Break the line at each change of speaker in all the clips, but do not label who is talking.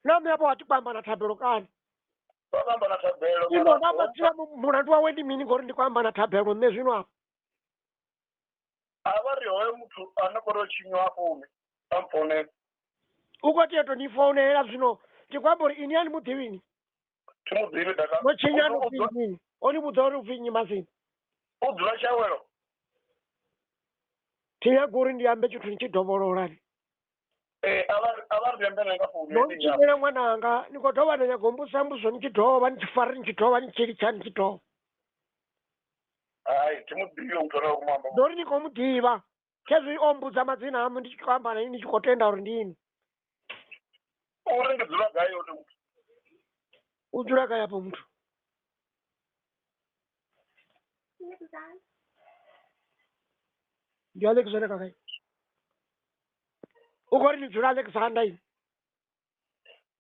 nami apo atikwamba na thabelo kani kwamba na thabelo ino ndamatsira mulandu wawe ndi mini ngori ndikwamba na thabelo nne zwino apo a vha ri hoyo muthu ane kho ro tshinywa afho une a mfounela uko tieto ni founela zwino ndikwamba uri ini ani muḓivhini thi mu ḓivhi daka no tshinyani U- u- upfi mini oni vhudza uri upfi nnyi masini u dzula tshawelo thi nyaga uri ndi ambe tshithu ni tshi dovhololani Eh, a va a va ri rembela eka foni no ni leyi ya tshumela n'wananga ni ko dovha na nyago mbusa mbuso ni tshidova ni tshifari ni tshidova ni tshilitshani tshidova hayi thi mu ḓivhi u ṱola ku mamba ndori ni khou mu ḓivha khezwi o mbudza madzina amu ndi tshi khou amba na ini tshi khou tenda uri ndi ini uri ndi dzula gai yone muthu u dzula gai afho muthu ndi alexander kakai u khou ri ni dzula alexander ini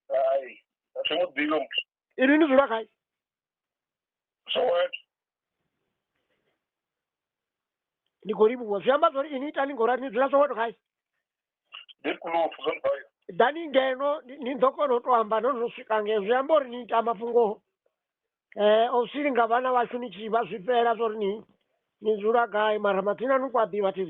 hayi a thi mu ḓivhi muthu ini ni dzula gai soweto ni khou livhuwa zwi amba zwori ini itani ngorali ni dzula soweto gai deep blue fuzon bayo ḓani ngeno ni- ni ḓo kona u to amba no no swika ngeno zwi amba uri ni ita mafhungo um o silinga vhana vhashu ni tshi vha zwifhela zwa uri ni ni dzula gai mara mathina ni ku a ḓivha tv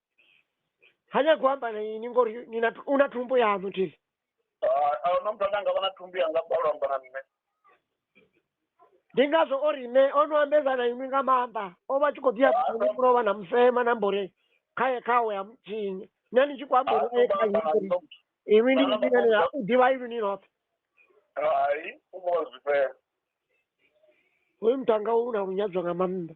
hanya kuhamba na ini ngori nina una thumbu yanu tili aona muthu ane anga vha na thumbu yanga balo amba na nṋe ndi ngazwo o ri nṋe o no ambedza na inwi nga maanḓa o vha tshi khou ḓi yabuni kulo vha na musema na mbore khaye khawe ya mutshinyi nṋe ndi tshi khou amba uri kha inwi inwi ndi mutshingani ya u ḓivha inwi ni noṱhe hai u vhona zwifhela hoyu muthu anga u na lunyadzwa nga maanḓa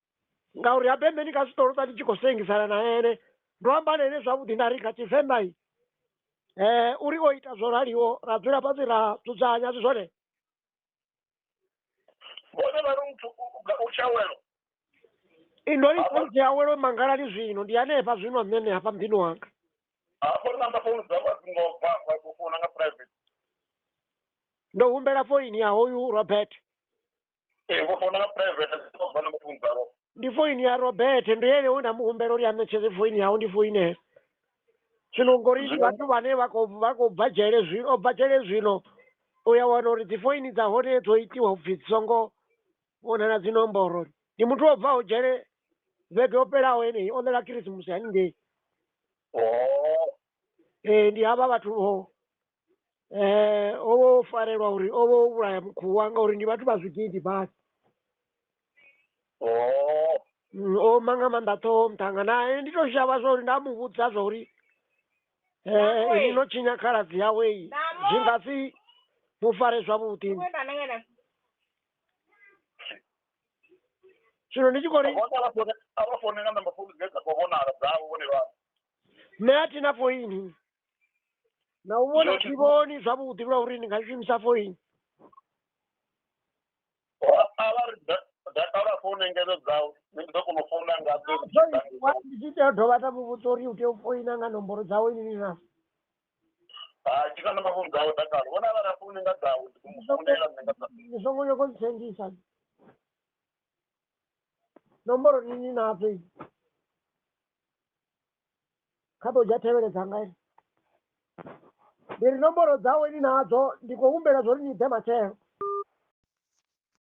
ngauri habe meni ka sitolo tani tshi khou sengisana na ene ndo amba na ene zwavhuḓi nda ri kha tshivenḓa i eh uri o ita zwo raliho ra dzula fhasi ra dzudzanya zwi zwone Vhone vha ri u pfu- u- u- u tshawelo. indo ni khonzi awelo mangalani zwino ndi hanefha zwino nṋe nṋe hafha muḓini wanga Hafho namba founu dza vha dzi ngo bva vha khou founa nga private. ndo humbela foini ya hoyu robert ee ngo founela private zwa na mafhungo ḓaro ndi foini ya robert ndo yele we nda mu humbela uri a ṋetshedze foini yawe ndi foinela zwino ngori ndi Zwino- vhathu vhane vha khou vha khou bva dzhele zwino o bva dzhele zwino u ya wana uri dzifoini dza hone dzo itiwa upfhi dzi songo vhonala dzi nomboro ndi muthu o bvaho dzhele vhege yo fhelaho yeneyi o ḽela khirisimusi haningei oo ee ndi havha vhathu vho eh o vha o farelwa uri o vha o vhulaya mukhuwa ngauri ndi vhathu vha zwigidi basi oh Mm, o ma nga maanḓa ṱhoho muṱhanga nae ndi to shavha zwa uri nda mu vhudza zwa uri Nako, eh eh. ni no tshinya khaladzi yawe iyi Namo. zwi nga si mu fare zwavhuḓi Uwe kana kana. zwino ndi tshi khou ri vhona vha fone a vha fone nga namba founu dze dza khou vhonala dzavho vhone vha nṋe a thina foini na u vhona thi vhoni zwavhuḓi lwa uri ndi nga shumisa foini a vha ri da- data lwa founu engedzo dzau nṋe ndi ḓo kona u founa nga dzo ndi tshi ḓa ndi Wa- ndi tshi tea u dovha nda mu vhudza uri u tea u foina nga nomboro dzawe nini na ha ndi kana mafhungo dzau dakalo vhona vha ra founu nga dzau ndi ḓo mu founela nṋe nga dza ndi songo nyoko ntsengisa nomboro ni ni nadzo i kha ḓo dzha thevhele dzanga i ndi ri nomboro dzawe ni nadzo ndi khou humbela zwo ri ni ḓe matshelo